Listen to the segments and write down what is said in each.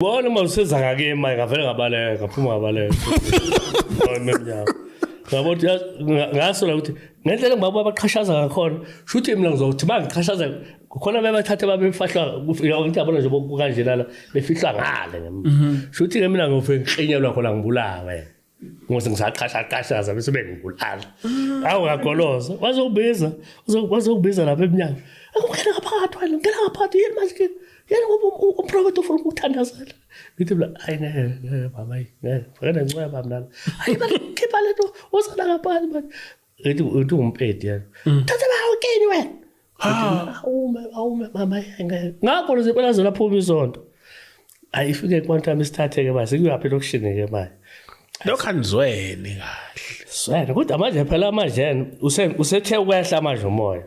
Bona uma usenza ngake imali ngavele ngabaleka ngaphuma ngabaleka. Ngimemnyama. Ngabo ukuthi ngasola ukuthi ngendlela ngibaba abaqhashaza ngakhona shuthi mina ngizothi bangiqhashaza khona bebathathe babefahlwa ngithi yabona nje bokukanjena la befihlwa ngale shuthi ke mina ngofike ngiqinyelwa khona ngibulawe. ngoze ngisaqashaqashaza bese bengibulala awu ngagoloza wazokubiza wazokubiza lapha emnyango akungena ngaphakathi wena ngena ngaphakathi yini manje yena ngoba umprofethi ufuna ukuthandazela ngithi mla hayi ngeke ngeke baba ngeke ngeke nencweba mnana hayi manje khipha lento wozana ngaphakathi manje ethi uthi umpedi yena mm. thatha bawo kini wena awume awume mama ngeke ngakho lezi phela zona phuma isonto ayi ifike kwantami isithatheke manje kuyaphi lokushini ke manje lokho anizweni kahle swena kodwa manje phela manje usethe ukwehla manje umoya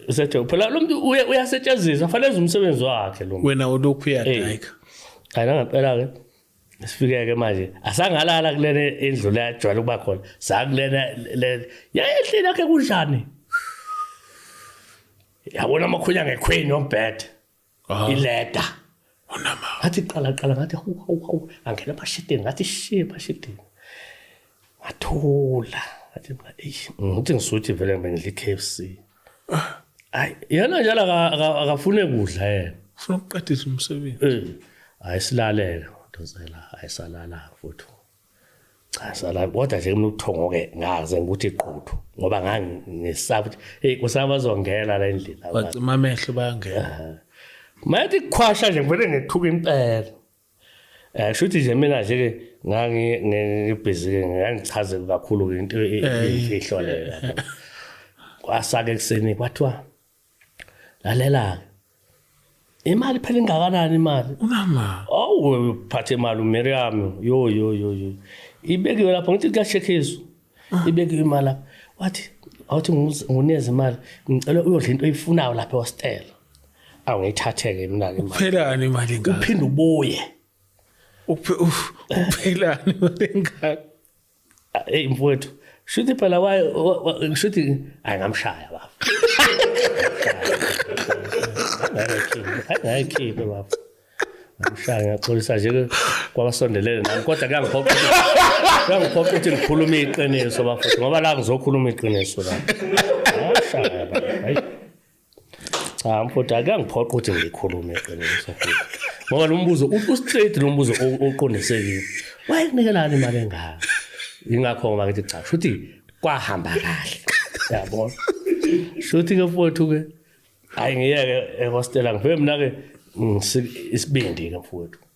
usethe phela lo muntu uyasetshenziswa fanele umsebenzi wakhe lo wena ulokhu uyadayika ayina ngempela ke sifike-ke manje asangalala kulena indlu le ajwayele ukuba khona sakulena yayehlile yakhe kunjani yabona amakhulu angekhweni yombhede ah. ileda ngathi qalaqala ngathi hawu hawu hawu angena bashidini ngathi shiye bashidini ngathula ngathi mina eyi ngithi ngisuthi vele ngibengidla i-k f c hayi yena njalo aka- aka- akafune kudla yena ufuna ukuqedisa umsebenzi Eh, hayi silalele dozela hayi salala futhi cha salala kodwa nje kumele uthongo ke ngaze ukuthi iqhuthu ngoba ngangisaba ukuthi hey kusaba bazongena la endlini abantu. bacima amehlo bayangena mayethi kukhwasha nje ngivele ngethuka impela Eh shuthi nje mina nje ke ngangi ngibhizi ke ngangichaze kakhulu into e- e- Eh. imfihlo leyo. Kwasake kuseni kwathiwa lalela imali phela ingakanani imali? Unama. Awu phathe imali uMiriam yo yo yo yo. Ibekiwe lapho ngithi kuyashekhiswa. ibeke imali lapho wathi awuthi nguneze imali ngicela uyodla into oyifunayo lapha ehostel awu ngiyithathe-ke mina-ke kuphelani imali engaka uphinde ubuye uphelani imali engaka eyi mfowethu shuthi phela shuthi ayi ngamshaya baba angayikhiphe baba Ngishaya ngiyaxolisa nje kwabasondelene nami kodwa kuyangiphoqa kuyangiphoqa ukuthi ngikhulume iqiniso bafethu ngoba la ngizokhuluma iqiniso la. Ngashaya hayi. Cha mfuthu akuyangiphoqa ukuthi ngikhulume iqiniso futhi. Ngoba lo mbuzo ustraight lo mbuzo oqondisekile. Wayekunikelani imali engaka? Ingakho ngoba ngithi cha futhi kwahamba kahle. Yabona. Shuthi ke mfuthu ke hayi ngiyeke ehostela ngifike mina-ke isibindi-ke mfowethu